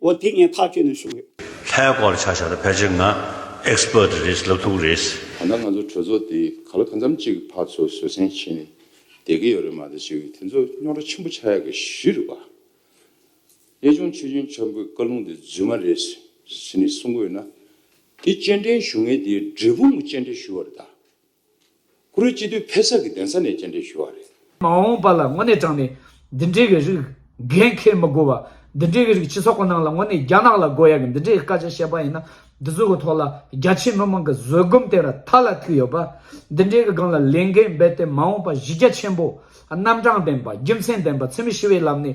འོ་དེ་ངས་ཐག་གཅོད་ནས་བྱུང་ཡོད། ལྷའི་སྐོར་ཆ་བཞག་ན་ཕལ་ཆེར་ང Expert རེད་ལབ་ཐུབ་རེད། ད་ལྟ་ང་ཚོ་གྲོས་ཚོགས་དེ་ག་ལ་གང་འཚམ་གཅིག་ཕར་ཚུར་བཟོད་བསྲན་བྱས་ནས་བསྡད་ཀྱི་ཡོད་རེད་མ་གཏོགས་ཅིག་དེ་ཚོ་རྙོག་དྲ་ཆེན་པོ་ཆགས་ཡག་གི་ཞུས་རེད་པ། གཡས་ལྗོངས་ཆོས་རྒྱུན་ཆབ་མགོའི་བཀའ་ལུང་དེ་རྫུན་མ་རེད་ཟེར་ནས་གསུང་གི་ཡོད་ན། དེ་སྤྱན་འདྲེན་ཞུ་མཁན་དེའི་འབྲས་སྤུངས་ཀྱི་སྤྱན་འདྲེན་ཞུ་བ་རེད་ད། ཁུ་རུའི་སྤྱི་འཐུས་ཕེ་སག་གི་གདན་ས་ནས་སྤྱན་འདྲེན་ཞུ་བ་རེད། མ་འོངས་པ་ལ་དངོས་གནས་དྲང་ནས་འདི་འདྲའི་གི་རིགས་འགན་འཁེལ་མི་དགོས་བ། འདི་འདྲའི་གི་རིགས་སྤྱི་ཚོགས་ཀི་ནང་ལ་དངོས་གནས་རྒྱ་ནག་ལ་དགོས་ཡ་གི་འདི་འདྲའི་སྐད་ཆ་བཤད་པ་ཡིན་ན་འདི་ཚོ་གི་ཐོག་ལ་རྒྱ་ཆེའི་མི་མང་གི་བཟོད་སྒོམ་བསྟན་ར་ཐ་ལ་ཐུག་ཡོད་པ། འདི་འདྲའི་གི་སྒང་ལ་ལས་འགན་འབད་དེ་མ་འོངས་པ་གཞི་རྒྱ་ཆེན་པོ། རྣམ་གྲངས་ལྡན་པ་རྒྱུ་མཚན་ལྡན་པ་འཚེ་མེད་ཞི་བའི་ལམ་ནས།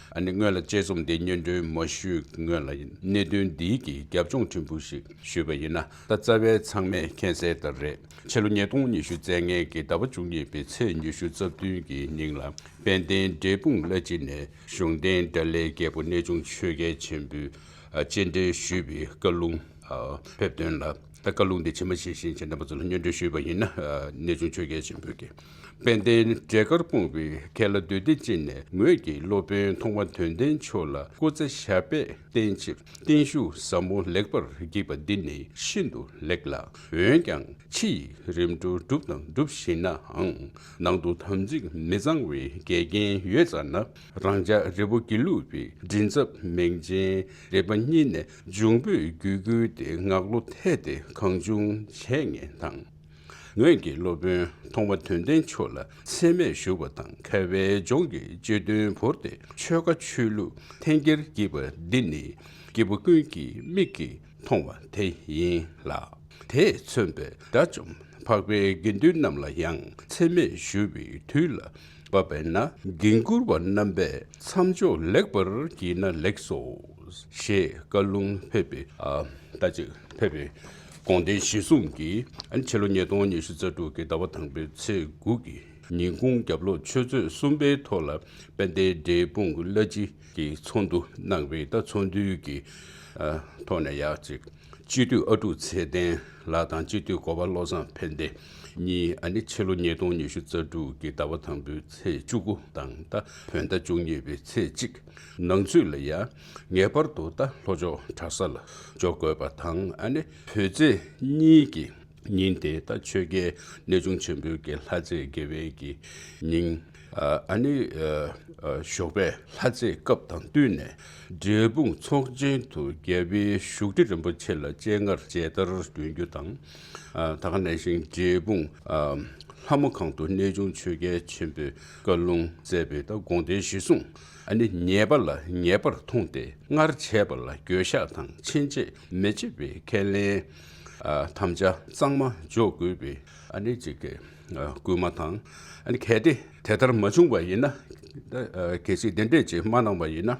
ཨ་ནི་སྔོན་ལ་དཔྱད་རྩོམ་འདི་སྙན་སྒྲོན་མ་ཞུས་སྔོན་ལ་གནད་དོན་འདིའི་གི་རྒྱབ་ལྗོངས་ཕྲན་བུ་ཞིག་ཞུས་པ་ཡིན་ན་ད་རྩ་བའི་ཚང་མས་མཁྱེན་གསལ་ལྟར་རེད་ཕྱི་ལོ་ཉིས་སྟོང་ཉི་ཤུ་ཚེས་ལྔའི་གི་ཟླ་བ་བཅུ་གཉིས་པའི་ཚེས་ཉི་ཤུ་རྩ་བདུན་གི་ཉིན་ལ་དཔལ་ལྡན་འབྲས་སྤུངས་བླ་སྤྱི་ནས་གཞུང་རྟེན་དགྲ་བླའི་རྒྱལ་པོ་གནས་ཆུང་ཆོས་རྒྱལ་ཆེན་པོས་སྤྱན་འདྲེན་ཞུས་པའི་བཀའ་ལུང་ཕེབས་དོན་ལ། ད་བཀའ་ལུང་འདི་ཕྱི་མ་ཤེས་བཞིན་བྱེད་འདོད་པ་ཚོ་ལ་སྙོན་འདྲི་ཞུས་པ་ཡིན་ན། གནས་ཆུང་ཆོས་རྒྱལ་ཆེན་པོས་ཀྱི། དཔལ་ལྡན་འབྲས་དཀར་སྤུངས་པའི་མཁན་ལ་འདུས་སྡེ་སྤྱི་ནས་ངོས་ཀྱི་སློབ་དཔོན་མཐོང་བ་དོན་ལྡན་མཆོག་ལ་སྐུ་ཚེ་ཞབས་པད་བརྟན་ཕྱིར་བརྟན་བཞུགས་ཟབ་མོ་ལེགས་པར་བགྱིས་པ་འདི་ནི་ཤིན་ཏུ་ལེགས་ལ། འོན་ཀྱང་ཕྱི་ཡི་རིམ་གྲོ་བསྒྲུབས་དང་སྒྲུབ་བཞིན་ནའང། ནང་དུ་དམ་ཚིག་མི་གཙང་བའི་འགལ་རྐྱེན་ཡོད་ཙང་ན། རང་ཅག་རི་བོ་དགེ་ལུགས་པའི་མགྲིན་ཚབ་མིང་ཅན་རིག་པ་གཉིས་ནས་འབྱུང་པོས་རྒྱུད་བསྐུལ་ཏེ་ངག་བློ་འཐད་དེ་གང་བྱུང་བྱས་ངེས་དང། ངོས་ཀྱི་སློབ་དཔོན་མཐོང་བ་དོན་ལྡན་ཆོས་ལ་ཚད་མེད་བཞུགས་པ་དང་ཁ་བའི་ལྗོངས་ཀྱི་སྤྱི་དོན་བོར་ཏེ་ཆོལ་ཁ་ཆོས་ལུགས་འཐེན་འཁྱེར་བགྱིས་པ་འདི་ནི་སྐྱེ་བོ་ཀུན་གྱི་མིག་གིས་མཐོང་བ་དེ་ཡིན་ལ། དེས་མཚོན་པའི་དགྲ་བཅོམ་འཕགས་པའི་དགེ་འདུན་རྣམས་ལ་ཡང་ཚད་མེད་ཞུ་བའི་དུས་ལ། བ་བས་ན་འགན་འཁུར་བ་རྣམ་པས་མཚམས་འཇོག་ལེགས་པར་བགྱིས་ན་ལེགས་སོ། ཞེས་བཀའ་ལུང་ཕེབས་པས། ཟླ་གཅིག་ཕེབས་པའི་དགོངས་ལྡན་བཞེད་གསུང་གིས་ཕྱི་ལོ་ཉིས་སྟོང་ཉི་ཤུ་རྩ་དྲུག་གི་ཟླ་བ་དང་པོའི་ཚེས་དགུ་གི་ཉིན་གུང་རྒྱབ་ལོགས་ཆོས་ཚོད་གསུམ་པའི་ཐོག་ལ་དཔལ་ལྡན་འབྲས་སྤུངས་བླ་སྤྱི་གིས་ཚོགས་འདུ་གནང་བས་ད་ཚོགས་འདུའི་ཐོག་ནས་ཡག་ཅིག། སྤྱི་འཐུས་ཨ་ཀྲུག་ཚེ་བརྟན་ལགས་དང་སྤྱི་འཐུས་གོ་བ་བློ་བཟང་ཕན་བདེ་གཉིས་ཨ་ནི་ཕྱི་ལོ་ཉིས་སྟོང་ཉི་ཤུ་རྩ་དྲུག་གི་ཟླ་བ་དང་པོའི་ཚེས་བཅུ་དགུ་དང་ད་བོད་ཟླ་བཅུ་གཉིས་པའི་ཚེས་གཅིག་ནང་ཚུད་ལ་ཡ་ངེས་པར་དུ་ད་ལྷོ་ཕྱོགས་གྲྭ་ས་ལ་འཇོག་དགོས་པ་དང་ཨ་ནི་བོད་ཚེས་གཉིས་ཀྱི་ཉིན་དེ་ད་ཆོས་རྒྱལ་གནས་ཆུང་ཆེན་པོའི་དགེ་ལྷ་རྩེའི་དགེ་བའི་གི་ཉིན་ཨ་ནི་ཞོགས་པའི་ལྷ་རྩེའི་སྐབས་དང་བསྟུན་ནས་འབྲས་སྤུངས་ཚོགས་ཆེན་དུ་རྒྱལ་བའི་བཞུགས་ཁྲི་རིན་པོ་ཆེ་ལ་སྤྱན་སྔར་མཇལ་དར་འདོན་རྒྱུ་དང། ད་ག་ནས་ཤིང་འབྲས་སྤུངས་ལྷ་མོ་ཁང་དུ་གནས་ཆུང་ཆོས་རྒྱལ་ཆེན་པོས་བཀའ་ལུང་སྩལ་པའི་ད་དགོངས་བརྡའི་གཞི་བཟུང་ནི་ཉེས་པ་ལ་ཉེས་པར་མཐོང་སྟེ་སྔར་བྱས་པ་ལ་འགྱོད་བཤགས་དང་ཕྱིན་ཆད་མི་བྱེད་པའི་ཁས་ལེན་དམ་བཅའ་གཙང་མ་འཇོག་དགོས་པའི་གཅིག་སྟེ། བསྐུལ་མ་དང། གལ་ཏེ་དེ་ལྟར་མ་བྱུང་བ་ཡིན་ན། གལ་སྲིད་དེ་འདྲས་ཀྱིས་མ་གནང་བ་ཡིན་ན།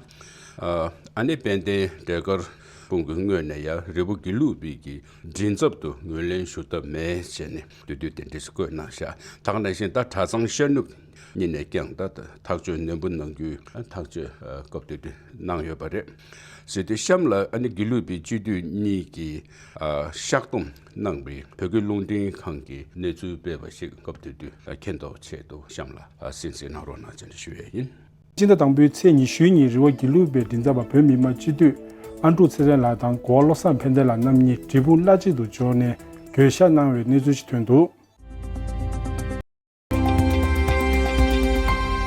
ཨ་ནེ་དཔལ་ལྡན་འབྲས་དཀར་དཔུང་གི་སྔོན་ནས་ཡང་རི་བོ་དགེ་ལུགས་དབུས་ཀྱི་མགྲིན་ཚབ་ཏུ་ངོས་ལེན་ཞུ་ཐབས་མེད་ཅེས་ནས་འདུས་སྡོད་དེ་འབྲས་སུ་བཀོད་གནང་ཤག་དང་ནས་བཞིན་ད་གྲྭ་ཚང་ཤར་ནུབ་གཉིས་ནས་ཀྱང་ད་ཐག་གཅོད་ནན་པོ་གནང་རྒྱུའི་ཐག་གཅོད་སྐབས་འདུས་སྡོད་གནང་ཡོད་པ་རེད། ཟེར་དུས་གཤམ་ལ་ཨ་ནེ་དགེ་ལུགས་པའི་སྤྱི་འཐུས་གཉིས་ཀྱིས་བཤགས་སྡོམ་གནང་བའི་བོད་སྐད་རླུང་འཕྲིན་ཁང་གི་གནས་ཚུལ་སྤེལ་བ་ཞིག་སྐབས་དེ་དུས་མཁྱེན་རྟོགས་ཆེད་དུ་གཤམ་ལ་གསན་གསན་གནང་རོགས་གནང་བཅའ་འདྲི་ཞུ་ཡས་ཡིན། སྤྱི་ཟླ་དང་པོའི་ཚེས་ཉི་ཤུའི་ཉིན་རི་བོ་དགེ་ལུགས་པའི་མགྲིན་ཚབ་པ་བོད་མི་མ་སྤྱི་འཐུས་ཨ་འབྲུག་ཚེ་བརྟན་ལགས་དང་གོ་བ་བློ་བཟང་ཕན་བདེ་ལགས་རྣམ་གཉིས་འབྲས་སྤུངས་བླ་གཅིག་ཏུ་འབྱོར་ནས་གྱོད་བཤགས་གནང་བའི་གནས་ཚུལ་ཞིག་ཐོན་འདུག།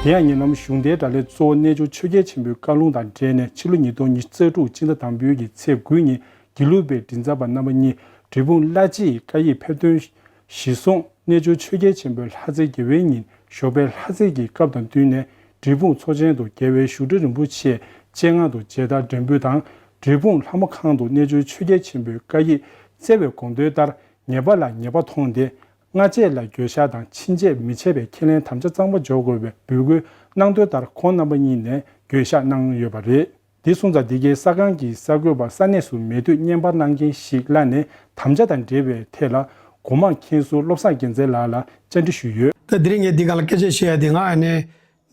དེ་ཡང་ཉེ་ལམ་གཞུང་དེའི་དགྲ་ལས་གཙོ་བོ་རྣལ་འབྱོར་ཆོས་རྒྱལ་ཆེན་པོའི་བཀའ་ལུང་དང་འབྲེལ་ནས་ཕྱི་ལོ་ཉིས་སྟོང་ཉིས་བརྩེགས་དྲུག་སྤྱི་ཟླ་དང་པོའི་ཀྱི་ཚེས་དགུའི་ཉིན་དགེ་ལུགས་པའི་མགྲིན་ཚབ་པ་རྣམ་པ་གཉིས་འབྲས་སྤུངས་བླ་སྤྱི་ཡི་བཀའ་ཡིག་ཕེབས་དོན། གཞི་བཟུང་རྣལ་འབྱོར་ཆོས་རྒྱལ་ཆེན་པོའི་ལྷ་རྩེ་དགེ་བའི་ཉིན་ཞོགས་པའི་ལྷ་རྩེ་གྱི་སྐབས་དང་བསྟུན་ནས་འབྲས་སྤུངས་མཚོ་ཆེན་དུ་རྒྱལ་བའི་བཞུགས་ཁྲི་རིན་པོ་ཆེའི་སྤྱན་སྔ་དུ་མཇལ་དར་སྒྲེང་འབུལ་དང་འབྲས་སྤུངས་ལྷ་མོ་ཁང་དུ་རྣལ་འབྱོར་ཆོས་རྒྱལ་ཆེན་པོའི་བཀའ་ཡིག་སྩལ་བའི་དགོངས་དོན་ལྟར་ངེས་པ་ལ་ངེས་པ་མཐོང་སྟེ་སྔ་རྗེས་ལ་འགྱོད་བཤགས་དང་ཕྱིན་ཆད་མི་བྱེད་པའི་ཁས་ལེན་དམ་བཅའ་གཙང་པོ་འཇོག་དགོས་པའི་འབོད་སྐུལ་གནང་དོན་ལྟར་ཁོང་རྣམ་པ་གཉིས་ནས་འགྱོད་བཤགས་གནང་ཡོད་པ་རེད། འདི་སོང་ཙང་འདི་གའི་ས་ཁང་གི་གསར་འགོད་པ་ས་གནས་སུ་མེད་དུས་བརྙན་པར་གནང་མཁན་ཞིག་གླ་ནས་དམ་བཅའ་དང་འབྲེལ་བའི་ཐད་ལ་སྒོ་མང་མཁན་ཟུར་བློ་བཟང་རྒྱལ་མཚན་ལགས་ལ་བཅར་འདྲི་ཞུས་ཡོད། ད་འདིར་ངས་འདི་ག་ལ་སྐད་ཆ་བཤད་ཡ་དེ་ང་ཨ་ནེ་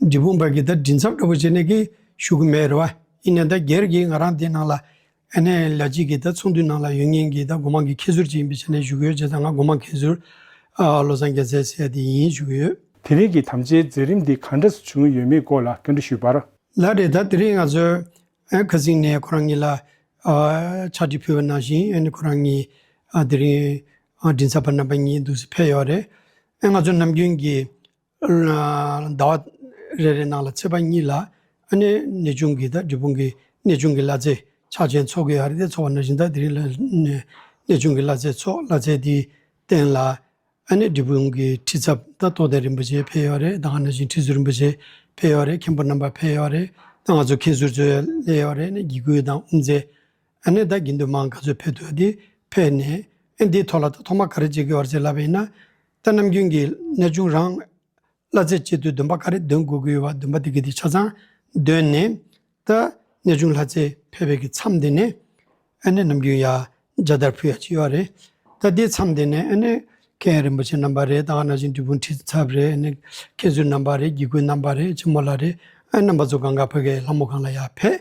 འབྲི་སྤུངས་པ་གི་ད་འབྲི་མཚམས་འདྲ་པོ་བྱེད་ནས་ཀི་ཞུ་གི་མེད་རེད་བ་ཡིན་ནའི་ད་སྒེར་གི་ང་རང་དེ་ནང་ལ་ཨ་ནེ་ལ་གཅིག་གིས་ད་ཚོང་དུད་ནང་ལ་ཡོད་ངེས་ཀྱི་ད་སྒོ་མང་གི་ཁྱད་ཟུར་ཅིག་ཡིན་པའི་ཆ་ནས་བཞུགས་ཡོད་ཅེས་ད་ང་སྒོ་མང་ཁྱད་ཟུར་བློ་བཟང་རྒྱལ་མཚན་ཟེར་དེ་ཡིན་བཞུགས་ཡོད། དེ་རིང་གི་དམ་བཅའི་མཛད་རིམ་འདི་གང་འདྲ་སུ་བྱུང་ཡོད་མེད་སྐོར་ལ་སྐྱོན་འདྲི་ཞུས་པར། ལ་རེ་ད་དེ་རིང་ང་ཚོས་ཁ་བསྲིངས་ནས་ཁོ་རང་ཉིད་ལ་ཕྱག་བྲིས་ཕུལ་བ་ནང་བཞིན་ཁོ་རང་ཉིད་དེ་རིང་མགྲིན་ཚབ་པ་རྣམ་པ་གཉིས་འདུག་སེ་ཕེབས་ཡོད་རེད། ང་ཚོ་ནམ་རྒྱུན་གྱི་ཟླ་བ་རེ་རེའི་ནང་ལ་ཚེས་པ་གཉིས་ལ་ཨ་ནེ་ནེ་ཆུང་གི་དང་འབྲི་བུང་གི་ནེ་ཆུང་གི་བླ་ཚེ་ཕྱག་ཆེན་ཚོགས་ཀྱི་ཨར་ཏེ་ཚོགས་པ་ནང་བཞིན་དང་དེ་རིང་ལ་ནེ་ཆུང་གི་བླ་ཚེ་ཚོགས་བླ་ཚེ་དེའི་སྟེང་ལ་ཨ་ནེ་འབྲི་བུང་གི་ཁྲི་ཚབ་དང་ཐོག་ལྡན་རིན་པོ་ཆེ་ཕེབས་ཡོད་རེད་ད་སྔ་ནང་བཞིན་ཁྲི་ཟུར་རིན་པོ་ཆེ་ཕེབས་ཡོད་རེད་མཁན་པོ་རྣམ་པ་ཕེབས་ཡོད་རེད་ད་ང་ཚོ་མཁན་ཟུར་ཚོའི་སླད་ཡོད་རེད་ནས་དགེ་བསྐུལ་དང་དབུ་མཛད་ཨ་ནེ་ད་གིན་དུས་མང་ག་ཚོད་ཕེབས་འདུག་འདི་ཕེབས་ནས་ཨེ་འདིའི་ཐོག་ལ་ད་ཐོག་མ་ག་རེ་བྱེད་དགོས་བར་ཚེ་ལབ་པའི་ན་ད་ནམ་རྒྱུན་གྱི་གནས་ཆུང་རང་གླ་རྩེ་བྱེད་དུས་འདུན་པ་ག་རེ་འདོན་དགོས་ཀྱི་ཡོད་བ་འདུན་པ་དེ་གི་དེ་ཆ་ཚང་འདོན་ནས་ད་གནས་ཆུང་ལྷ་རྩེ་ཕེབས་པའི་གི་མཚམས་དེ་ནས་ཨ་ནེ་ནམ་རྒྱུན་ཡ་རྒྱ་དར་ཕུ་ཡ་ཅིག་ཡོད་རེད་ད་དེའི་མཚམས་དེ་ནས་ཨ་ནེ་ཁྱེད་རིན་པོ་ཆེ་རྣམ་པ་རེད་ད་ཨ་ན་ཅིང་དྲིལ་བུ་འཁྲིད་ཚབ་རེད་ཨ་ནེ་ཁྱེད་ཚུལ་རྣམ་པ་རེད་སྒྱིད་སྐུལ་རྣམ་པ་རེད་ཆེན་མོ་ལ་རེད་ཨ་ནེ་རྣམ་པ་ཚོ་གང་ག་ཕོད་ཀའི་ལྷ་མོ་གང་ལ་ཡ་ཕེབས་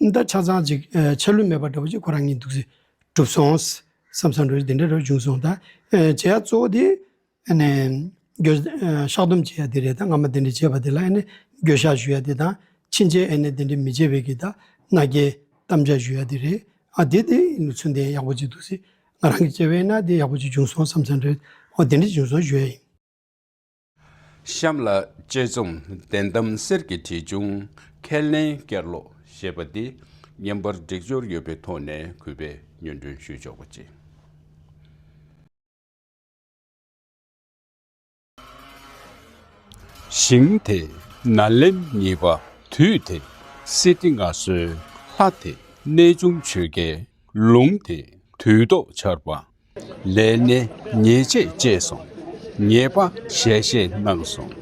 འདི་ཆ་ཚང་ཅིག་ཆ་ལུས་མེད་པ་འདྲ་པོ་ཅིག་ཁོ་རང་གིས་འདུག་སེ། གྲུབ་སོང། བསམ་བསམ་རེད་དེ་འདྲ་རེད་བྱུང་སོང་ད། བྱས་ཡ་གཙོ་བོ་དེ། བཤགས་སྡོམ་བྱས་ཡ་དེ་རེད་ད་སྔ་མ་དེ་འདྲ་བྱས་པ་དེ་ལ་ཡེ་ནས་འགྱོད་བཤགས་ཞུ་ཡ་དེ་དང། ཕྱིན་ཆད་ཡེ་ནས་དེ་འདྲ་མི་བྱེད་པའི་གི་ད་མནའ་སྐྱེལ། གཏམ་འཇགས་ཞུ་ཡ་དེ་རེད། ཨ་དེ་དེ་ནུ་ཚོད་འདི་ཡག་པོ་ཅིག་འདུག་སེ། ང་རང་གིས་བྱས་པ་ཡིན་ན་དེ་ཡག་པོ་ཅིག་བྱུང་སོང་བསམ་བསམ་རེད། འོ་དེ་འདྲ་བྱུང་སོང་ཞུ་ཡ་ཡིན། གཤམ་ལ། དཔྱད་རྩོམ་བདེན་གཏམ་གསེར་གྱི་དྲིལ་ཆུང་ཁས་ལེན་བསྐྱར་ཀློག་ཞེས་པ་འདི་བརྙན་པར་སྒྲིག་སྦྱོར་ཡོད་པའི་ཐོག་ནས་གུས་པས་སྙོན་སྒྲོན་ཞུས་ཆོག་པ་ཅི། ཞིང་དེ་ན་ལེམ་གཉིས་པ་དུས་དེ་སྲིད་དེ་སྔ་སྲོལ་ལྷ་དེ་གནས་ཆུང་ཆོས་རྒྱལ་ལུང་དེ་དུས་ཏོག་ཆར་པ་ལས་སྣེ་ཉེས་ཆད་བཅད་སོང། ཉེས་པ་ཞལ་བཞེས་གནང་སོང།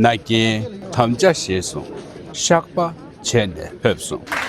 མནའ་སྐྱེལ་དམ་བཅའ་བྱས་སོང། བཤགས་པ་བྱས་ནས་ཕེབས་སོང།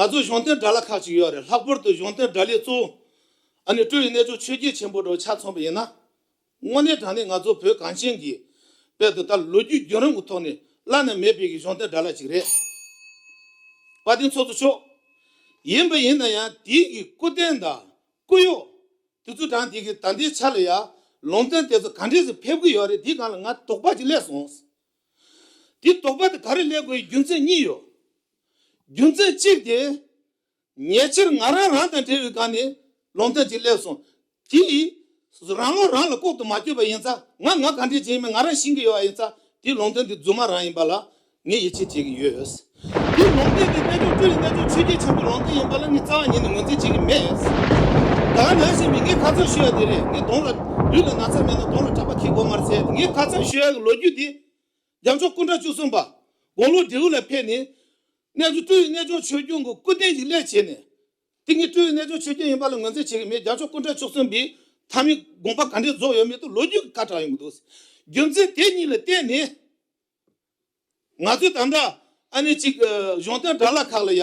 ང་ཚོའི་གཞུང་དོན་དགྲ་ལ་ཁག་ཅིག་ཡོད་རེད་ལྷག་པོར་དུ་གཞུང་དོན་དགྲ་ལས་གཙོ་བོ་ཨ་ནི་སྤྲུལ་བའི་གནས་ཚུལ་ཆོས་རྒྱལ་ཆེན་པོ་དྲོ་ཆ་མཚོན་པ་ཡིན་ན། དངོས་གནས་དྲང་གནས་ང་ཚོ་བོད་གངས་ཅན་གྱི་དཔལ་དུ་ལྟར་ལོ་རྒྱུས་རྒྱུན་རིང་གི་ཐོག་ནས་བླ་ན་མེད་དཔལ་གྱི་གཞུང་རྟེན་དགྲ་ལྷ་ཅིག་རེད། བཀའ་དྲིན་ཚོགས་གཙོ་མཆོག། ཡིན་པ་ཡིན་ན་ཡང་དེའི་གི་སྐུ་རྟེན་དང་སྐུ་གཡོག། དེ་ཚོ་དྲང་དེ་གི་ད་ལྟའི་ཆ་ལ་ཡང་ལུང་ཚན་དེ་ཚོ་གང་འདྲས་སུ་ཕེབས་ཀྱི་ཡོད་རེད་དེ་གང་ལ་ང་དོགས་པ་ཅིག་སླེབས་སོང། དེ་དོགས་པ་དེ་ག་རེ་སླེབས་དགོས་ཡི་རྒྱུ་མཚན་གཉིས་ཡོད། རྒྱུ་མཚན་གཅིག་དེ། ཉེ་ཆར་ང་རང་རང་དང་འབྲེལ་བའི་སྒང་ནས་ལོང་ཐེངས་གཅིག་སླེབས་སོང། དེས་རང་བློ་རང་ལ་ལྐོག་ཏུ་མ་བསྐྱོད་པ་ཡིན་ཙང་ང་ང་ག་འདྲའི་བྱེད་མིན་ང་རང་ཤེས་ཀྱི་ཡོད་པ་ཡིན་ཙང་དེའི་ལོང་ཐེངས་དེ་རྫུན་མ་རང་ཡིན་པ་ལ་ངས་ཡིད་ཆེས་བྱེད་ཀྱི་ཡོད། དེའི་ལོང་ཐེངས་དེ་རྣལ་འབྱོར་སྤྲུལ་ལས་རྣལ་འབྱོར་ཆོས་རྒྱལ་འཆང་གི་ལོང་ཐེངས་ཡིན་པ་ལ་ངས་རྩ་བ་ཉིད་ནས་ངོས་འཛིན་བྱེད་ཀྱི་མེད། ད་ང་ནང་བཞིན་མི་ངའི་ཁ་ཚང་ཞུ་ཡ་དེ་རེད་ངའི་གདོང་ལ་ལུས་ལ་ན་ཚ་མེད་ན་གདོང་ལ་སྐྲག་པ་ཁྱི་སྒོ་ངར་ཟེར་ཡ་དེ་ངའི་ཁ་ཚང་ཞུ་ཡ་གི་ལོ་རྒྱུས་དེ། རྒྱ་མཚོ་སྐུ་འདྲ་བཅུ་གསུམ་པ། དགུང་ལོ་དྲེའུ་ལ་ཕེབས་ནས། གནས་ཚུལ་སྤྲུལ་བའི་རྣལ་འབྱོར་ཆོས་སྐྱོང་གི་སྐུ་རྟེན་གྱི་སླད་བྱས་ནས། དེ་ཉིད་སྤྲུལ་བའི་རྣལ་འབྱོར་ཆོས་སྐྱོང་ཡིན་པ་ལ་ངོས་འཛིན་བྱེད་ཀྱི་མེད་རྒྱ་མཚོ་སྐུ་འདྲ་བཅུ་གསུམ་པའི་ཐ་མའི་དགོངས་པ་ག་འདྲའི་རྫོགས་ཡོད་མེད་དུ་ལོ་རྒྱུས་ཀྱི་ཁ་གྲགས་ཡོང་གི་འདུག་རྒྱུ་མཚན་དེ་གཉིས་ལ་བརྟེན་ནས། ང་ཚོས་ད་ལྟ་ཨ་ནེ་གཅིག་གཞུང་དོན་དགྲ་ལ་ཁག་ལ་ཡ།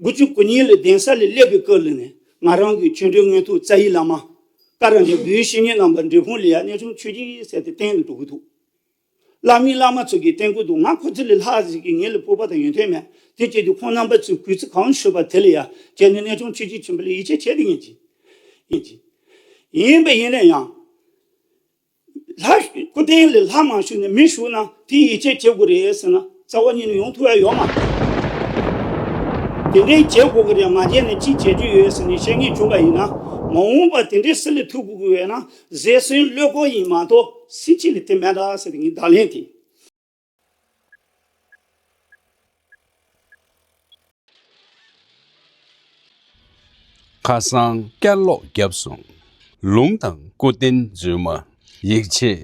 དགུ་བཅུ་དགུ་ཉིན་ལ་གདན་ས་ལས་སླེབས་པའི་སྐབས་ལ་ནི་ང་རང་གི་ཆོས་འབྲེལ་དངོས་ཐུགས་བཙའ་ཡི་བླ་མ། བཀའ་རང་བྱོན་བུའི་བཤེས་གཉེན་རྣམ་པ་འབྲས་སྤུངས་ལི་ཡ་གནས་ཆུང་ཆོས་རྗེའི་སྲས་དེ་བསྟེན་དུ་འགྲོ་གི་འདུག་བླ་མའི་བླ་མ་ཚོ་གི་བསྟེན་དགོས་འདུག་ང་ཁོ་ཚོ་ལས་ལྷག་ཟིག་གི་ངེད་ལ་སྤོབས་པ་དང་ཡོན་ཏན་མེད་དེ་སྐྱེས་དུས་ཁོང་རྣམ་པ་ཚོས་གུས་བརྩི་གང་ཤོད་པ་དེ་ལ་ཡ་བྱས་ནས་གནས་ཆུང་ཆོས་རྗེ་ཆེན་པོ་ལ་ཡིད་ཆེས་བྱས་ཏེ་ཡིན་གྱི་ཡིན་གྱི་ཡིན་པ་ཡིན་ན་ཡང། ལྷ། སྐུ་རྟེན་ལས་ལྷ་མ་བཞུགས་ནས་མི་བཞུགས་ན་དེ་ཡིད་ཆེས་བྱེད་དགོས་རེད་ཟེར་ན་རྩ་བ་ཉིད་ནས་ཡོང་ཐུབ་ཡ་ཡོད་མ་རེད། དེ་འདྲའི་བྱེད་དགོས་ཀྱི་རེད་མ་བྱས་ན་ཅི་བྱེད་རྒྱུ་ཡོད་ཟེར་ནས་བཤད་ངེས་བྱུང་བ་ཡིན་ན། མ་འོངས་པར་དེ་འདྲའི་སྲིད་ལས་ཐུགས་དགོས་ཀྱི་ཡོད་ན་གཟེར་སྲིན་བློས་བཀོལ་ཡིན་མ་གཏོགས་སྲིད་སྤྱི་ལས་དེ་མེད་ད་ཟེར་བའི་བརྡ་ལན་དེ། ཁ་སང་བསྐྱར་ཀློག་བརྒྱབ་སོང། ལུང་དང་སྐུ་རྟེན་རྫུན་མ། ཡིད་ཆེས་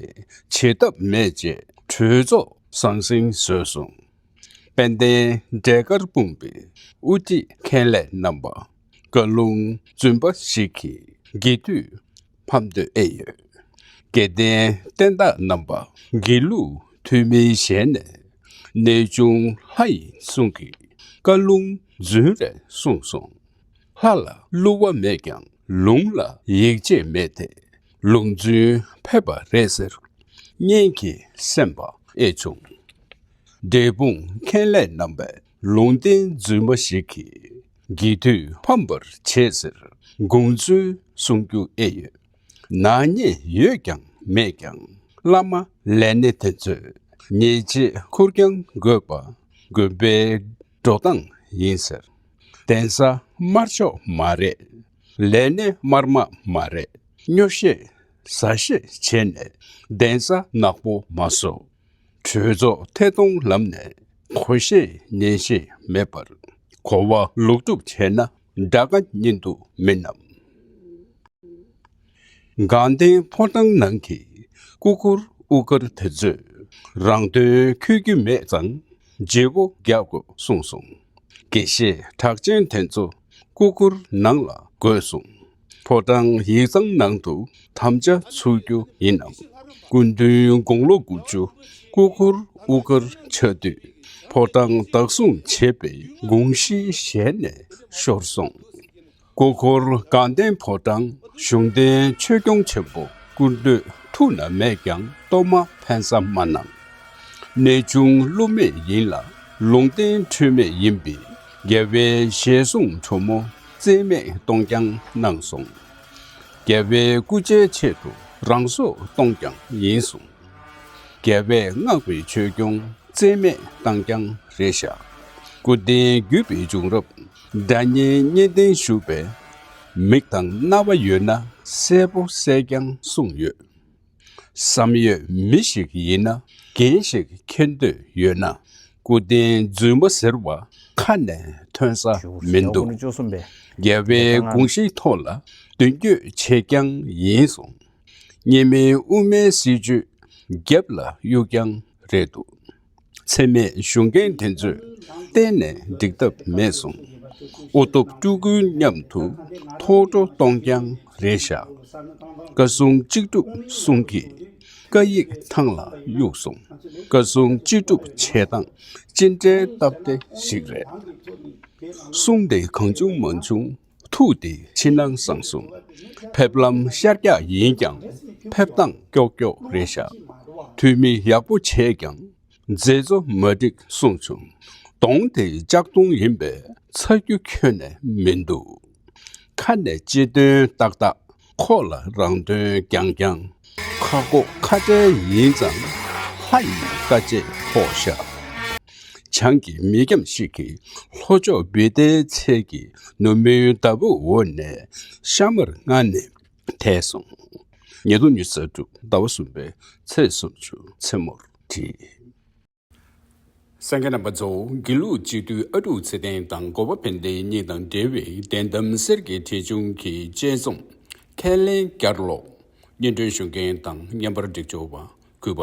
བྱེད་ཐབས་མེད་ཅེས་གྲོས་ཚོགས་ཟང་ཟིང་བཟོས་སོང། དཔལ་ལྡན་འབྲས་དཀར་སྤུངས་པའི་དབུ་ཁྲིད་མཁན་ལས་རྣམ་པ་བཀའ་ལུང་བཙུན་པ་ཞིག་གིས་དགེ་བསྡུས་ཕམ་འདོད་ཨེ་ཡོད། དགེ་ལྡན་བསྟན་བདག་རྣམ་པ་དགེ་ལུགས་ཐུན་མིན་ཞལ་ནས་གནས་ཆུང་ལྷ་ཡིན་གསུང་གིས་བཀའ་ལུང་རྫུན་རེ་གསུངས་སོང། ལྷ་ལ་བསླུ་བ་མེད་ཀྱང་ལུང་ལ་ཡིད་ཆེས་མེད་དེ་ལུང་རྫུན་ཕེབས་པ་རེད་ཟེར། གཉེན་གྱི་སེམས་པ་ཨེ་བྱུང། འབྲས་སྤུངས་མཁན་ལས་རྣམ་པས་ལུང་བསྟན་རྫུན་མ་ཞིག་གིས་རྒྱས་བསྡུས་ཕམ་པར་བྱས་ཟེར་དགོངས་ཚུལ་གསུང་རྒྱུ་ཨེ་ཡོད། ནག་ཉེས་ཡོད་ཀྱང་མེད་ཀྱང་བླ་མ་ལས་སྣེ་དེ་ཚོས་ཉེས་ཆད་འཁུར་རྐྱང་དགོས་པ་དགོན་པའི་འགྲོ་སྟངས་ཡིན་ཟེར། གདན་ས་དམར་ཕྱོགས་མ་རེད། ལས་སྣེ་དམར་དམག་མ་རེད་སྨྱོ་བཤད་ཟ་བཤད་བྱས་ནས་གདན་ས་ནག་པོ་མ་བཟོ། གྲོས་ཚོགས་ཐད་གཏོང་ལམ་ནས་གོ་ཤེས་ཉན་ཤེས་མེད་པར་གོ་བ་ལོག་སྒྲུབ་བྱས་ན་དགྲ་དགའ་གཉེན་སྡུག་མིན་ནམ། དགའ་ལྡན་ཕོ་བྲང་ནང་གི་སྐུ་སྒུར་དབུ་དཀར་དེ་ཚོས་རང་དོན་འཁྱོལ་རྒྱུ་མེད་ཙང་རྗེ་བོ་རྒྱག་དགོས་གསུངས་སོང། དགེ་བཤེས་གྲགས་ཅན་དེ་ཚོ་སྐུ་སྒུར་ནང་ལ་དགོས་གསུངས། ཕོ་བྲང་ཡིག་ཚང་ནང་དུ་དམ་བཅའ་ཚུགས་རྒྱུ་ཡིན་ནམ། སྐུ་མདུན་དགུང་ལོ་དགུ་བཅུ་སྐུ་འཁོར་དབུ་དཀར་ཕྱག་དུས་ཕོ་བྲང་བདག་སྲུང་བྱེད་པའི་དགོངས་གཞི་ཞལ་ནས་ཤོར་སོང། སྐུ་འཁོར་དགའ་ལྡན་ཕོ་བྲང་གཞུང་བསྟེན་ཆོས་སྐྱོང་ཆེན་པོ་སྐུ་མདོས་ཐུགས་ན་མེད་ཀྱང་གཏོར་མ་འཕེན་ས་མ་གནང། གནས་ཆུང་བསླུ་མེད་ཡིན་ལ་ལུང་བསྟན་འཁྲུལ་མེད་ཡིན་པས་རྒྱལ་བའི་ཞལ་གསུང་ཁྲོ་མོ་བརྩེ་མེད་གཏོང་རྐྱང་གནང་གསུང། རྒྱལ་བའི་སྐུ་ཆའི་ཆེད་དུ་རང་སྲོག་གཏོང་རྐྱང་ཡིན་གསུང། རྒྱལ་བས་མངགས་པའི་ཆོས་སྐྱོང་བརྩེ་མེད་གཏང་རྐྱང་རེད་བཞག། སྐུ་རྟེན་བརྒྱུད་པའི་བྱུང་རབས་སྒྲ་སྙན་སྙན་ལྡན་བཞུགས་པས། མིག་དང་རྣ་བ་ཡོད་ན་གསལ་པོ་གསལ་རྐྱང་གསུངས་ཡོད། བསམ་ཡོད་མི་ཞིག་ཡིན་ན་འགན་ཞིག་འཁྱེར་འདོད་ཡོད་ན་སྐུ་རྟེན་རྫུན་མ་ཟེར་བ་ཁ་ནས་ཐོན་ས་མི་འདུག་རྒྱལ་བའི་དགོངས་གཞི་ཐོག་ལ་མདུན་སྐྱོད་བྱེད་རྐྱང་ཡིན་སོང། གཉིས་མིན་དབུ་མའི་སྲིད་བྱུས་རྒྱབ་ལ་གཡུག་རྐྱང་རེད་འདུག། འཚེ་མེད་གཞུང་རྒན་དེ་ཚོས་གཏན་ནས་འགྲིག་ཐབས་མེད་སོང། ཨོ་སྟོབས་སྤྲུལ་སྐུ་མཉམ་དུ་ཐོག་སྤྲོ་གཏོང་རྐྱང་རེད་བཞག། བཀའ་སྲུང་གཅིག་སྒྲུབ་གསུང་གིས་བཀའ་ཡིག་ཐང་ལ་གཡུགས་སོང། བཀའ་སྲུང་གཅིག་སྒྲུབ་བྱེད་སྟངས་ཅི་འདྲའི་སྟབས་བདེ་ཞིག་རེད། གསུང་དེ་གང་བྱུང་མ་བྱུང། ཐུགས་བདེ་ཕྱི་ནང་གསང་གསུམ་ཕེབས་ལམ་ཤར་རྒྱག་ཡིན་ཀྱང་ཕེབས་སྟངས་ཀྱོག་ཀྱོག་རེད་བཞག་འཐུས་མི་ཡག་པོ་བྱས་ཀྱང་མཛད་གཙོ་མ་འགྲིག་གསུངས་བྱུང་གདོང་དེ་ལྕགས་གདོང་ཡིན་པས་ཚ་རྒྱུ་ཁྱོན་ནས་མིན་འདུག་ཁ་ནས་སྤྱི་དོན་ཏག་ཏག་ཁོག་ལ་རང་དོན་རྐྱང་རྐྱང། ཁ་ཁོག་ཁ་བྲལ་ཡིན་ཙང། ལྷ་ཡི་བཀའ་ཆད་ཕོག་བཞག། བྱང་གི་མི་འཁྱམས་ཤིག་གིས་ལྷོ་ཕྱོགས་བི་ཏའི་ཚལ་གྱི་ནུབ་མོའི་འདབ་བུ་འོག་ནས་ཤ་མར་མངལ་ནས་ཐལ་སོང། ཉེ་དུ་ཉི་ཟེར་དྲུག་ཟླ་བ་གསུམ་པའི་ཚེས་སུམ་ཅུ་མཚན་མོར་བྲིས། སངས་རྒྱས་རྣམ་པ་རྫོགས་དགེ་ལུགས་སྤྱི་འཐུས་ཨ་ཀྲུག་ཚེ་བརྟན་དང་སྒོ་བ་བན་དེ་གཉིས་དང་འབྲེལ་བའི་བདེན་གཏམ་གསེར་གྱི་ཁྲི་ཆུང་གི་དཔྱད་རྩོམ། ཁས་ལེན་བསྐྱར་ཀློག། སྙན་སྒྲོན་ཞུ་མཁན་དང་བརྙན་པར་སྒྲིག་སྦྱོར་བ་གུས་པ་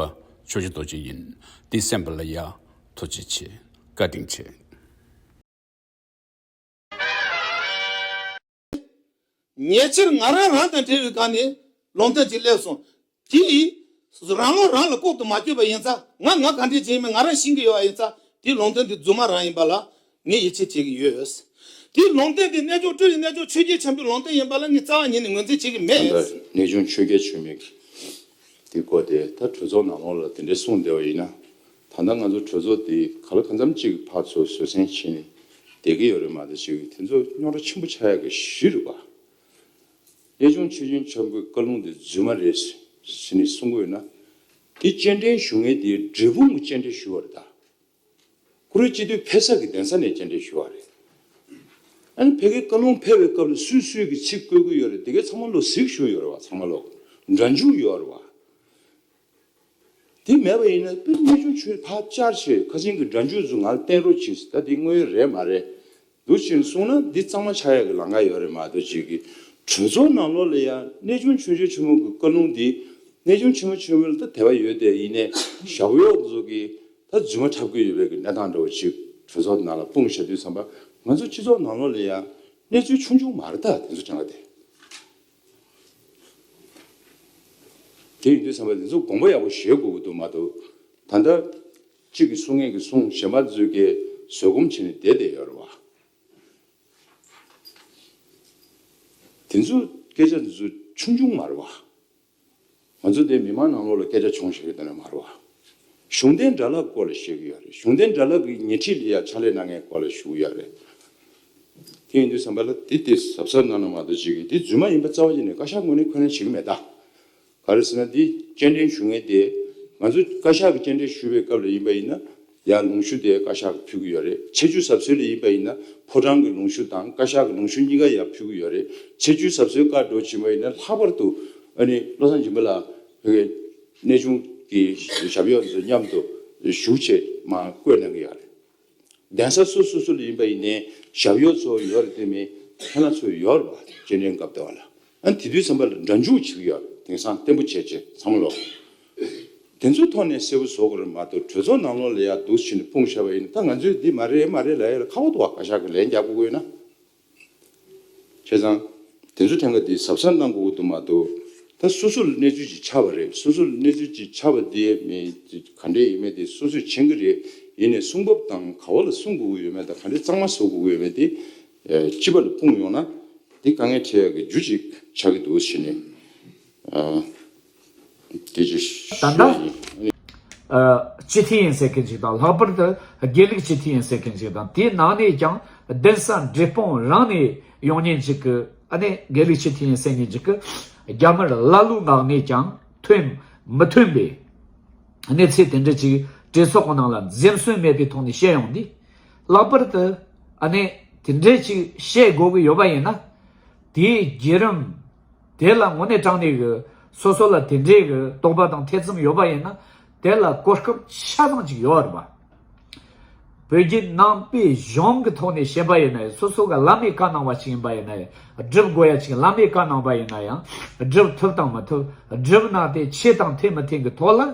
ཆོས་རྗེ་རྡོ་རྗེ་ཡིན། འདི་གསན་པ་ལ་ཡག་ཐོ་ཆེ་ཆེ། བཀའ་དྲིན་ཆེ། ཉེ་ཆར་ང་རང་རང་དང་འབྲེལ་བའི་སྒང་ནས་ལུང་བསྟན་ཅིག་སླེབས་སོང། དེ་ཡིས། རང་བློ་རང་ལ་ལྐོག་ཏུ་མ་བཅོས་པ་ཡིན་ཚ་ང་ང་ག་འདྲའི་ཅན་ཡིན་མིན་ང་རང་ཤེས་ཀྱི་ཡོད་པ་ཡིན་ཚ་དེའི་ལུང་བསྟན་དེ་རྫུན་མ་རང་ཡིན་པ་ལ་ངས་ཡིད་ཆེས་བྱེད་ཀྱི་ཡོད། དེའི་ལུང་བསྟན་དེ་རྣལ་འབྱོར་སྤྲུལ་ཡི་རྣལ་འབྱོར་ཆོས་རྒྱལ་འཆང་པོའི་ལུང་བསྟན་ཡིན་པ་ལ་ངས་རྩ་བ་ཉིད་ནས་ངོས་འཛིན་བྱེད་ཀྱི་ད་ལྟ་མེད། རྣལ་འབྱོར་ཆོས་རྒྱལ་ཆོས་མེད་ཀྱིས་དེ་བཀོད་དེ་ད་གྲོས་ཚོགས་ནང་ལོགས་ལ་དེ་འདྲས་གསུངས་བསྡད་པ་ཡིན་ན་ད་ལྟ་ང་ཚོ་གྲོས་ཚོགས་འདི་ག་ལ་གང་འཚམ་གཅིག་གི་བར་ཚོ་བཟོད་བསྲན་བྱེད་ནས་བསྡད་ཀྱི་ཡོད་རེད་མ་ཟད་ཅིག་དེ་ཚོ་རྙོག་དྲ་ཆེན་པོ་ཆགས་ཡག་གི་གཞི་རེད་པ། གནས་ཆུང་མཆོད་སྦྱིན་ཆོས་འཕེལ་བཀའ་ལུང་འདི་རྫུན་མ་རེད་ཟེར་ནས་གསུང་གི་ཡོད་ན། དེ་སྤྱན་འདྲེན་ཞུ་ངེས་དེ་འབྲས་སྤུངས་ཀྱི་སྤྱན་འདྲེན་ཞུ་བ་རེད་ད། ཀུ་རེ་སྤྱི་འཐུས་ཕེབས་ས་གི་གདན་ས་ནས་སྤྱན་འདྲེན་ཞུ་བ་རེད། ཨ་ནི་ཕལ་གྱི་བཀའ་ལུང་ཕེབས་པའི་སྐབས་ལ་སུས་སུས་ཀྱི་ཚིག་བཀོད་ཀྱི་ཡོད་རེད་དེ་གའི་ཚང་མ་ལོ་ཟིག་བཞུགས་ཡོད་རེད་བ་ཚང་མ་ལོ་འདྲ་འཇུག་ཡོད་རེད་བ། དེ་མེད་པ་ཡིན་ན་དཔེ་རྙེད་ཆུང་ཆུང་ཐག་བཅར་ཆེད་ཁ་ཆེན་གྱི་སྒྲ་འཇུག་ཟུར་ང་ལ་བསྟན་རོགས་གྱིས་ད་འདི་དངོས་ཡོད་རེད་མ་རེད་འདུག་ཅེས་གསུངས་ན་འདི་གཙང་མ་ཆགས་ཡག་གི་ལངས་ཀ་ཡོད་རེད་མ་གཏོགས་ཅིག་གིས་གྲོས་ཚོགས་ནང་ལོགས་ལ་ཡང་གནས་ཆུང་ཆུང་ཆུང་ཆུང་མོ་གི་བཀའ་ལུང་འདི་གནས་ཆུང་ཆུང་མོ་ཆུང་མོ་ལ་ད་དེ་བ་ཡོད་དེ་ཡིན་ནས་ཞྭ་གོ་གཡོག་ཟོ་གིས་ད་རྫུན་མ་འཁྲབ་གི་ཡོད་པའི་གི་གནས་སྟངས་འདྲ་བོ་ཅིག་གྲོས་ཚོགས་ནང་ལ་སྤུངས་ཞབས་དུས་བསམ་པ་ང་ཚོ་སྤྱི་ཚོགས་ནང་ལོགས་ལ་ཡང་གནས་ཚུལ་ཆུང་ཆུང་མ་རེ་ད་དེ་ཚོ་དྲན་ག་དེ་དེ་ཡིན་དུས་བསམ་པ་དེ་ཚོ་དགོངས་པ་ཡག་པོ་བཞེས་དགོས་ཀྱི་འདུག་མ་གཏོགས། ད་ལྟ། གཅིག་གིས་གསུང་ངེད་ཀྱིས་གསུང་བཞེས་མ་བརྫུས་ཀའི་བཟོད་སྒོམ་བྱས་ནས་བསྡད་བསྡད་ཡོད་རེད་བ། དེ་ཚོ་སྐད་ཆ་འདི་ཚོ་ཆུང་ཆུང་མ་རེད་བ། ང་ཚོ་འདིར་མི་མང་ནང་ལོགས་ལ་སྐད་ཆ་བྱུང་ཞིག་རེད་དེ་འདྲ་མ་རེད་བ། གཞུང་འབྲེལ་འདྲ་ལབ་སྐོར་ལ་ཤེས་གི་ཡོད་རེད་གཞུང་འབྲེལ་འདྲ་ལབ་གི་ཉེ་ཁྲིས་ལ་ཡ་ཆ་ལེ་གནང་མཁན་སྐོར་ལ་ཞུ་གི་ཡོད་རེད། དེ་ཡིན་དུས་བསམ་པ་ལ་དེ་དེ་ཟབ་ཟབ་གནང་ན་མ་གཏོགས་བྱེད་གི་འདི་རྫུན་མ་ཡིན་པ་རྩ་བ་ཡིན་ནས་བཀའ་ཤག་ངོས་ནས་འཁོན་ལན་བྱེད་གི་མེད་ད། ག་རེ་ཟེར་ན་འདི་སྤྱན་འདྲེན་ཞུ་ངེས་དེ། ང་ཚོ་བཀའ་ཤག་གི་སྤྱན་འདྲེན་ཞུ་བའི་སྐབས་ལ་ཡིན་པ་ཡིན་ན་ཡང་ལུང་ཤུར་དེ་བཀའ་ཤག་གི་ཕུལ་གྱི་ཡོད་རེད་ཆེ་ཆུ་ཟབ་གསོའི་རེ་ཡིན་པ་ཡིན་ན་ཕོ་བྲང་གི་ལུང་ཤུར་དང་བཀའ་ཤག་གི་ལུང་ཤུར་གཉིས་ཀ་ཡང་ཕུལ་གྱི་ཡོད་རེད་ཆེ་ཆུའི་ཟབ་གསོའི་བཀའ་འགྲོ་བྱིན་པ་ཡིན་ན་ལྷག་པར་དུ་ཨ་ནི་བློ་བཟང་སྦྱིན་པ་ལགས་བོད་པའི་གནས་ཆུང་གི་ཞབས་གཡོག་ཚོ་མཉམ་དུ་བཞུགས་ཆེད་མ་བསྐོས་གནང་གི་ཡག་རེད་གདན་ས་སོ་སོ་སུ་ལ་ཡིན་པ་ཡིན་ནའི་ཞབས་གཡོག་ཚོ་ཡོད་རེད་དེ་མིན་ཁྱེད་ལ་ཚོ་ཡོད་རེད་བ་སྤྱན་འདྲེན་སྐབས་བལྟ་བ་ལ་ཨ་དེ་དུས་བསམ་པ་ལ་འདྲ་འཇུག་བྱེད་ཀྱི་ཡོད་དེང་སང་བརྟན་པོ་བྱས་རྗེས་བསམ་བློ་དེ་ཚོའི་ཐོག་ནས་གསལ་བོ་བཟོ་དགོས་རེད་མ་གཏོགས་གྲོས་ཚོགས་ནང་ལོག་ལ་ཡག་སྡུག་བྱེད་ནས་སྤུངས་ཤར་བ་ཡིན་ད་ང་ཚོས་འདི་མ་རེད་མ་རེད་ལ་ཡ་ལ་ཁ་བ་དོག་བ་ག་ཤག་གི་ལན་རྒྱག་དགོས་དགོས་ན། བྱས་ཙང་དེ་ཚོ་ཐེངས་ཀ་འདི་ཟབ་ས་གནང་དགོས་ཀྱི་འདུག་མ་གཏོགས་ད་སོ་སོ་ལ་གནས་ཚུལ་ཅིག་ཆགས་པ་རེད་སོ་སོ་ལ་གནས་ཚུལ་ཅིག་ཆགས་པ་དེ་ག་འདྲས་ཡིན་མེད་དེ་སོ་སོས་མཁྱེན་གྱི་རེད་ཡིན་ནས་གསུང་བབ་དང་ག་བ་ལ་གསུང་དགོས་ཀྱི་ཡོད་མེད་དང་ག་འདྲས་གཙང་མ་བཟོ་དགོས་ཀྱི་ཡོད་མེད་དེ་སྤྱི་པ་ལ་སྤུངས་ཡོང་ན་འདི་དཀའ་ངལ་འཕྲད་ཡག་གི་རྒྱུ་གཅིག་ཆགས་ཀྱི་འདུག་བཞི་ནི། དེ་ཅི་ཞིག་ཡིན་ཨ་ནི། སྤྱི་འཐུས་ཡིན་ཟེར་མཁན་ཞིག་དང་ལྷག་པར་དུ་དགེ་ལུགས་སྤྱི་འཐུས་ཡིན་ཟེར་མཁན་ཞིག་དང་དེའི་ནང་ནས་ཀྱང་གདན་ས་འབྲས་སྤུངས་རང་ནས་ཡོང་ཉེན་ཅིག་གི་ཨ་ནི་དགེ་ལུགས་སྤྱི་འཐུས་ཡིན་ཟེར་ཉེན་ཅིག་གི་རྒྱ་དམར་ཀླ་ཀློའི་ངག་ནས་ཀྱང་ཐོན་མི་ཐོན་པའི་གནས་ཚད་དེ་འདྲ་ཅིག་གྲོས་ཚོགས་ཀྱི་ནང་ལ་འཛེམས་ཟོན་མེད་པའི་ཐོག་ནས་བཤད་ཡོང་དུས། ལྷག་པར་དུ་ཨ་ནེ་དེ་འདྲས་ཅིག་བཤད་དགོས་ཀྱི་ཡོད་པ་ཡིན་ན། དེའི་བརྒྱུད་རིམ་དེ་ལ་ངོ་ནས་དྲངས་ནས་ཀྱི་སོ་སོ་ལ་དེ་འདྲས་ཀྱི་རྟོག་པ་དང་ཐེ་ཚོམ་ཡོད་པ་ཡིན་ན་དེ་ལ་གོ་སྐབས་ཆ་ཚང་ཅིག་ཡོད་རེད་པ། བོད་བརྒྱུད་ནང་པའི་གཞུང་གི་ཐོག་ནས་བཤད་པ་ཡིན་ན་སོ་སོ་ག་བླ་མའི་བཀའ་གནང་བ་ཞིག་ཡིན་པ་ཡིན་ན་བསྒྲུབ་དགོས་ཡ་ཅིག་བླ་མའི་བཀའ་གནང་བ་ཡིན་ན་ཡང་བསྒྲུབ་ཐུབ་དང་མི་ཐུབ་བསྒྲུབ་གནང་དེ་ཆེ་དང་ཐེ་མི་ཐེ་གི་ཐོག་ལ།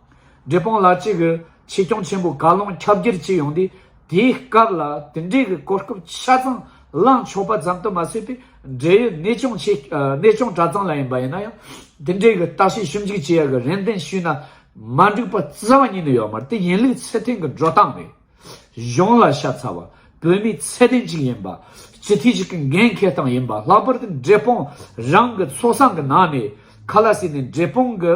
འབྲས་སྤུངས་ལ་གཅིག་གི་ཆེད་སྐྱོང་ཆེན་པོ་ག་ལུང་ཁྱབ་རྒྱར་ཅི་ཡོང་དུས་དེའི་སྐབས་ལ་དེ་འབྲེལ་གྱི་གོ་སྐབས་ཆ་ཚང་བླངས་ཆོག་པ་ཙམ་དུ་མ་ཟད་པའི་འབྲེལ་ཡོད་གནས་ཆུང་གནས་ཆུང་གྲྭ་ཚང་ལ་ཡིན་པ་ཡིན་ན་ཡང་དེ་འབྲེལ་གྱི་བརྟག་དཔྱད་ཞིབ་འཇུག་བྱེད་ཡག་གི་རེན་ཏན་ཞུས་ན་མ་འགྲིག་པ་རྩ་བ་ཉིད་ནས་ཡོད་མ་རེད་དེ་ཡིན་ལུགས་ཚེ་ཐིང་གི་འགྲོ་སྟངས་རེད། གཞུང་ལ་ཤ་ཚ་བ། བོད་མིའི་ཚད་ལྡན་ཅིག་ཡིན་པ། སྤྱི་འཐུས་ཤིག་གི་འགན་འཁེལ་སྟངས་ཡིན་པ་ལྷག་པར་དུ་འབྲས་སྤུངས་རང་གི་ཚོགས་ས་གི་ནང་ནས་ཁ་ལ་སྲིད་ནས་འབྲས་སྤུངས་ཀྱི་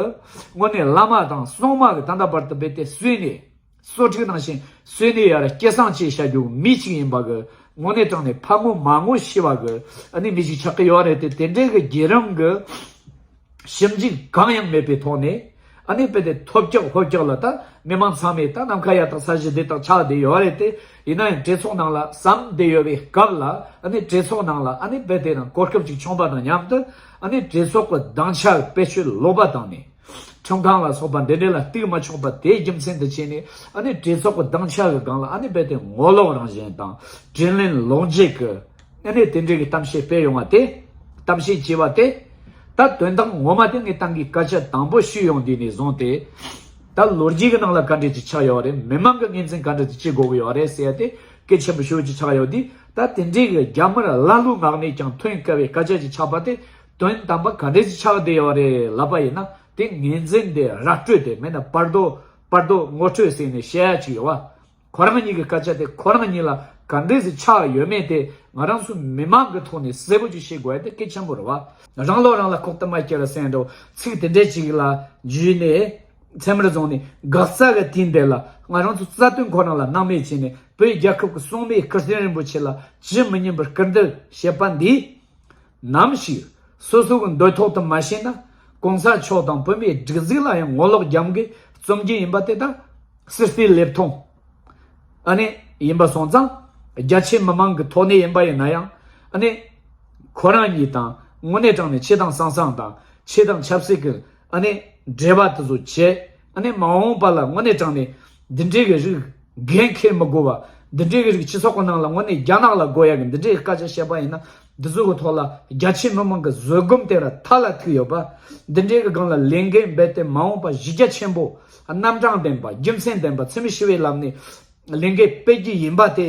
དངོས་གནས་བླ་མ་དང་སྲུང་མ་གི་ད་ལྟ་བར་དུ་རྦད་དེ་གསོས་ནས་གསོ་སྒྲིག་གནང་བཞིན་གསོས་ནས་ཡར་སྐྱེ་སངས་བཅས་བྱ་རྒྱུ་མི་ཅིག་ཡིན་པ་གི་དངོས་གནས་དྲང་ནས་ཕ་ངོ་མ་ངོ་ཤི་བ་གི་ཨ་ནི་མི་ཅིག་ཆགས་ཀྱི་ཡོད་རེད་དེ་དེ་འདྲའི་གི་རྒྱལ་རོང་གི། ཞིབ་འཇུག་གང་ཡང་མེད་པའི་ཐོག་ནས་ཨ་ནེ་པེ་ཏའི་ཐོབ་སྐྱོག་ཧོལ་སྐྱོག་ལ་ད་མི་མང་ཚང་མས་ད་ནམ་མཁའ་ཡག་དང་ས་གཞི་བདེ་དང་ཆགས་བདེ་ཡོད་རེད་དེ་ཡིན་ན་ཡང་གྲོས་ཚོགས་ནང་ལ་ཟམ་བདེ་ཡོད་པའི་སྐབས་ལ་ཨ་ནེ་གྲོས་ཚོགས་ནང་ལ་ཨ་ནེ་པེ་ཏའི་ནང་གོ་སྐབས་ཅིག་བྱུང་པ་དང་མཉམ་དུ་ཨ་ནེ་གྲོས་ཚོགས་ཀྱི་སྡང་ཆ་བེད་སྤྱོད་ལོག་པ་དང་ནས་ཁྲིམས་ཁང་ལ་སོགས་པ་འདི་འདྲ་ལ་གཏུགས་མ་ཆོག་པ་དེའི་རྒྱུ་མཚན་དུ་བྱས་ནས་ཨ་ནེ་གྲོས་ཚོགས་ཀྱི་སྡང་ཆ་གི་སྒང་ལ་ཨ་ནེ་པེ་ཏའི་ངོ་ལོག་རང་བཞིན་དང་དྲིན་ལན་ལོག་འཇལ་གྱི། ཨེ་རེད་དེ་འབྲེལ་གྱི་གཏམ་བཤད་སྤེལ་ཡོང་བ་དེ། གཏམ་བཤད་ཅེས་པ་དེ། ད་དོན་དག་ངོ་མ་དེ་ངས་ཏང་གི་བཀའ་ཆད་དང་པོ་ཞུས་ཡོང་དུས་ནས་བཟུང་སྟེ། ད་ལོ་རྒྱུས་ཀྱི་ནང་ལ་བཀའ་འབྲེལ་ཅིག་ཆགས་ཡོད་རེད་མི་མང་གི་ངེས་འཛིན་བཀའ་འབྲེལ་དེ་ཅི་དགོས་ཀྱི་ཡོད་རེད་ཟེར་ཡ་དེ་སྐད་ཆེན་པོ་ཤོས་ཅིག་ཆགས་ཡོད་དུས་ད་དེ་འབྲེལ་གྱི་རྒྱ་དམར་ཀླ་ཀློའི་ངག་ནས་ཀྱང་ཐོན་དཀའ་བའི་བཀའ་ཆད་ཅིག་ཆགས་པ་དེ་དོན་དམ་པ་ག་འདྲས་ཅིག་ཆགས་བསྡད་ཡོད་རེད་ལབ་པ་ཡིན་ན་དེ་ངེས་འཛིན་དེ་ར་སྤྲོད་དེ་མིན་ན་པར་དོ་པར་དོ་ངོ་སྤྲོད་ཟེར་ནས་བཤད་ཡ་ཅིག་ཡོད་བ། ཁོ་རང་ཉིད་ཀྱི་སྐད་ཆ་དེ་ཁོ་རང་ཉིད་ལ་ག་འདྲའི་གཟི་ཆགས་ཡོད་མེད་དེ་ང་རང་ཚོ་མི་མང་གི་ཐོག་ནས་གསལ་པོ་ཅིག་ཤེས་དགོས་དེ་སྐད་ཆེན་པོ་རེད་བ། རང་ལོག་རང་ལ་ཁོག་གཏམ་མ་སྐྱེ་བར་སེང་འབྲོག་ཚིག་དེ་འདྲས་ཅིག་ལ་འཇུས་ནས་མཚན་མར་བརྫོངས་ནས་འགག་རྩ་ག་དུས་འདས་ལ་ང་རང་ཚོ་རྩ་དོན་ཁོ་རང་ལ་སྣང་མེད་བྱས་ནས་བོད་རྒྱལ་ཁབ་ཀྱི་སྲུང་མའི་སྐུ་སྟེང་རིན་པོ་ཆེ་ལ་ཇི་མི་སྙན་པར་སྐུར་འདེབས་བྱེད་པ་འདིས། ནམ་ཞིག་སོ་སོ་གི་འདོད་ཐོག་ཏུ་མ་ཤེས་ན་གོང་ས་མཆོག་དང་བོད་མིའི་སྒྲིག་འཛིག་ལ་ཡང་ངོ་ལོག་རྒྱམ་གི་རྩོམ་རྒྱུན་ཡིན་པ་དེ་དག་སིལ་སིལ་ལེབ་མཐོང་ཨ་ནི་ཡིན་པ་སོང་ཙང་རྒྱ་ཆེ་མི་མང་གི་ཐོག་ནས་ཡིན་པ་ཡིན་ན་ཡང་ཨ་ནི་ཁོ་རང་ཉིད་དང་དངོས་གནས་དྲང་ནས་ཆེ་དང་སང་སང་དང་ཆེ་དང་ཆབ་སྲིད་གི་ཨ་ནི་འབྲེལ་བ་དེ་ཚོ་བྱེད་ཨ་ནི་མ་འོངས་པ་ལ་དངོས་གནས་དྲང་ནས་འདི་འདྲའི་གི་རིགས་འགན་འཁེལ་མི་དགོས་པ། འདི་འདྲའི་གི་རིགས་སྤྱི་ཚོགས་གི་ནང་ལ་དངོས་གནས་རྒྱ་ནག་ལ་དགོས་ཡ་གི་འདི་འདྲའི་སྐད་ཆ་བཤད་པ་ཡིན་ན། འདི་ཚོའི་གི་ཐོག་ལ་རྒྱ་ཆེའི་མི་མང་གི་བཟོད་སྒོམ་དེ་ར་ཐག་ལ་ཐིག་ཡོད་པ། འདི་འདྲའི་གི་སྒང་ལ་ལས་འགན་འབད་དེ་མ་འོངས་པ་གཞི་རྒྱ་ཆེན་པོ། རྣམ་གྲངས་ལྡན་པ་རྒྱུ་མཚན་ལྡན་པ་འཚེ་མེད་ཞི་བའི་ལམ་ནས་ལས་འགན་སྤེལ་གྱི་ཡིན་པ་དེ།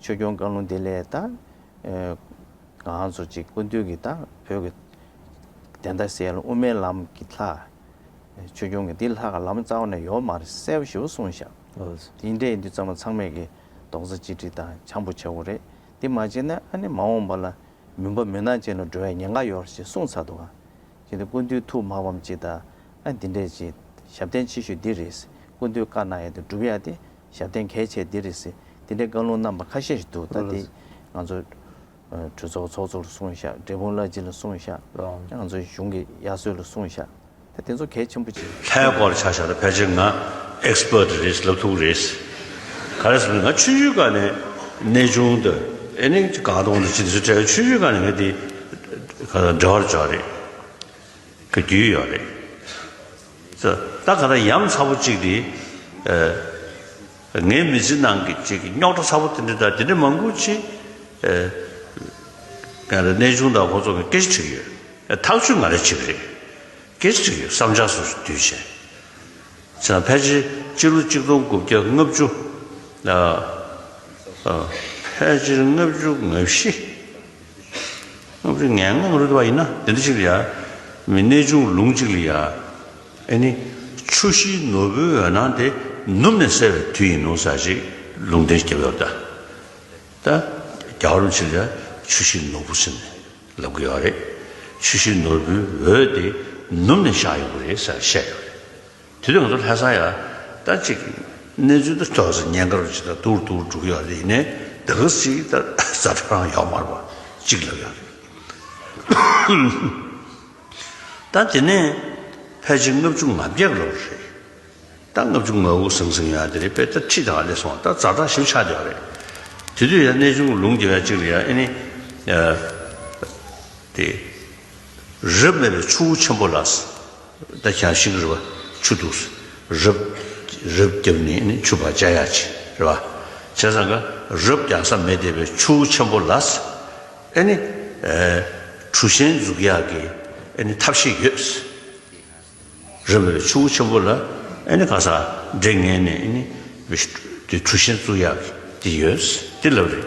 ཆོས་སྐྱོང་བཀའ་ལུང་དེ་ལས་བརྟག། གང་ཚོགས་ཅི་དགོས་འདོད་ཀྱིས་བརྟག། བོད་ཀྱི་བདེན་མཐའ་གསལ་དབུ་མའི་ལམ་གྱི་ལྷ། ཆོས་སྐྱོང་གི་འདི་ལྷ་ཁ་ལམ་རྩ་བ་ནས་ཡོ་མར་གསལ་བ་ཞིབ་པོ་གསུངས་བཞག། དེ་འདྲའི་འདི་ཙམ་ལ་ཚང་མས་ཀྱི་རྡོག་རྩ་གཅིག་སྒྲིལ་དང་བྱང་བུ་ཆགས་པོ་རེད། འདི་མ་བྱས་ན་ཨ་ནི་མ་འོངས་པ་ལ་མུན་པ་མུན་ནག་ཅན་ལ་འགྲོ་བའི་ཉེན་ཁ་ཡོར་ཞེས་གསུངས་ཚར་འདུག་ཨ། ཅི་འདི་ཀུན་འདུས་ཐུགས་མ་ཕམ་ཅི་ད་ཨ་འདི་འདྲས་ཅི། ཞབས་བརྟན་ཆེ་ཤོས་འདི་རེད། ཀུན་འདུས་བཀའ་གནང་ཡ་དེ་སྒྲུབ་ཡ་དེ། ཞབས་བརྟན་གལ་ཆེ་འདི་རེད་ཟེར། འདི་འདྲའི་བཀའ་ལུང་རྣམ་པ་ཁ་ཤས་ཤིག་འདུག་ད་དེ། ང་ཚོ། གྲོས་ཚོགས་ཚོགས་གཙོ་ལ་གསུངས་བཞག་འབྲས་སྤུངས་བླ་སྤྱི་ལ་གསུངས་བཞག་ང་ཚོའི་གཞུང་གི་དབྱར་གསོལ་ལ་གསུངས་བཞག་ད་དེ་ཚོ་གལ་ཆེན་པོ་ཅིག། ལྷའི་སྐོར་ཆ་བཞག་ད་ཕལ་ཆེར་ང། Expert། རེད་ཟེར་ལབ་ཐུག་རེད་ཟེར། ག་རེ་ཟེར་ང་ཆུ་ཆུའི་སྐར་ནས་གནས་ཆུང་ད། ཨེ་ནི་གང་ལྟ་བུ་འདི་ཅི་འདི་ཟེར་ཁྲེལ་ཆུ་ཆུའི་སྐར་ནས་ངས་འདི། ག་ཚོད་འབྲེལ་བར་འཇོག་རེད། ག་རྒྱུས་ཡོད་རེད། ད་ག་རང་ཡམས་ཚ་བོ་གཅིག་འདི། ངའི་མི་ཚེ་ནང་གི་གཅིག་གི་རྙོག་དྲ་ཚ་བོ་དེ་འདྲ་དང་དེ་འདྲ་མང་པོ་ཆེ། ང་རང་གནས་ཆུང་དང་ཁོ་ཚོ་གི་སྐད་ཆ་དྲིས་ཡོད། ཐག་ཆོད་ང་རང་ཆེ་བ་རེད། སྐད་ཆ་དྲིས་ཡོད་བསམ་ཆགས་སུ་སུ་དུས་བྱས། ཚེ་རང་ཕལ་ཆེར་སྤྱི་ལོ་གཅིག་སྟོང་དགུ་བརྒྱ་ལྔ་བཅུ། ཕལ་ཆེར་ལྔ་བཅུ་ང་བཞི། སྔགས་ཀྱི་ངན་སྔགས་རིག་པ་ཡིན་ན་དེ་འདྲ་ཞིག་ལ་ཡ། མི་གནས་ཆུང་ལུང་གཅིག་ལ་ཡ། ཨེ་ནི། ཆུ་བཞིའི་ནོར་བུའི་འོད་སྣང་དེ་ནུབ་ནས་གསལ་བའི་དུས་ཡིན་ནོ་ཟེར་ཞིག་ལུང་བསྟན་སྐྱེ་བོའི་བར་དུ། ད་རྒྱ་གར་བ་ཞིག་ལ་ཡ། ཆུ་བཞིའི་ནོར་བུ་ཟེར་ནས་ལབ་གི་ཡོད་རེད། ཆུ་བཞིའི་ནོར་བུའི་འོད་དེ་ནུབ་ནས་བཞག་ཡོང་གི་རེད་ཟེར་བཤད་ཡོད་རེད། དུས་ཐུང་དུ་ལྷ་ས་ཡ། ལྟར་གཅིག། གནས་ཚུལ་དུ་ཐོག་ས་ཉེན་ཁར་ཇི་ལྟར་དུར་དུར་འགྲོ་གི་ཡོག་རེད་ཡིན་ནས་ད་གིར་སི་ལྟར་ས་ཁྲ་རང་ཡོག་མར་བ་གཅིག་ལབ་ཡོག་རེད། ད་དེ་ནས་ཕལ་ཆེར་ལྔ་བཅུ་ང་བརྒྱད་ལོར་རེད། ད་ལྔ་བཅུ་ང་དགུ་ཟིང་ཟིང་ཡོག་དེ་རེད་པས་ད་ཁྲི་དང་ཨ་ལས་སོང་ད་རྫ་དྲག་ཞིམ་ཆགས་ཡོག་རེད། དེ་དུས་ཡ་གནས་ཆུང་གི་ལུང་རྒྱལ་བ་གཅིག་ལ་ཡ་ཨེ་ནི། ཨ། དེ། རབས་མེད་པའི་ཆུ་བོ་ཆེན་པོ་ལགས། ད་ཆ་ཤིག་རེད་བ། ཆུ་འཐུག་སུ། རབ། རབ་བརྒྱབ་ནས་ནི་ཆུ་བག་ཅག་ཡག་བྱེད། རེད་བ། བྱས་ཙང་ཀ། རབ་བརྒྱག་ས་མེད་དེ་བས་ཆུ་བོ་ཆེན་པོ་ལགས། ཨེ་ནི། གྲུ་ཆེན་འཛུགས་ཡག་གི། ཨེ་ནི་ཐབས་ཤེས་ཡོད། རབ་བས་ཆུ་བོ་ཆེན་པོ་ལ། ཨེ་ནི་ག་ས། འདྲེ་ངན་ནས་ཨེ་ནི། གྲུ་ཆེན་བཙུགས་ཡག་གི། དེ་ཡོད། དེ་ལབ་རེད།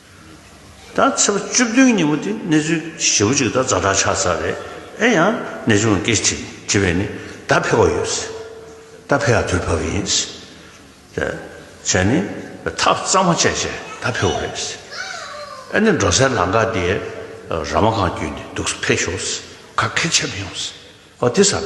ད་ཚེས་པ་བཅུ་བདུན་ཉིན་མོ་དེ་གནས་ཚུལ་ཞེ་བོ་གཅིག་ད་བཛྲ་དྲག་ཆགས་ཚར་རེད་ཨེ་ཡང་ནས་བྱུང་ལ་སྐད་ཅིག་དྲིས་པས་ནི་ད་ཕེ་བ་ཡོད་ཟེར་ད་ཕེ་ཡག་དུས་བབས་ཡིན་ཟེར་བྱས་ནི་ཐག་གཙང་མ་བཅད་བྱས་ད་ཕེ་བ་རེད་ཟེར་ཨེ་ནས་འགྲོ་སའི་ལམ་ཁ་དེ་ར་མ་གང་བརྒྱུད་ནས་འདུག་ཟེར་ཕེ་ཞོག་ཟེར་ག་ཁེ་ཆེ་མི་ཡོང་ཟེར་ཨོ་དེ་ཟ་ད།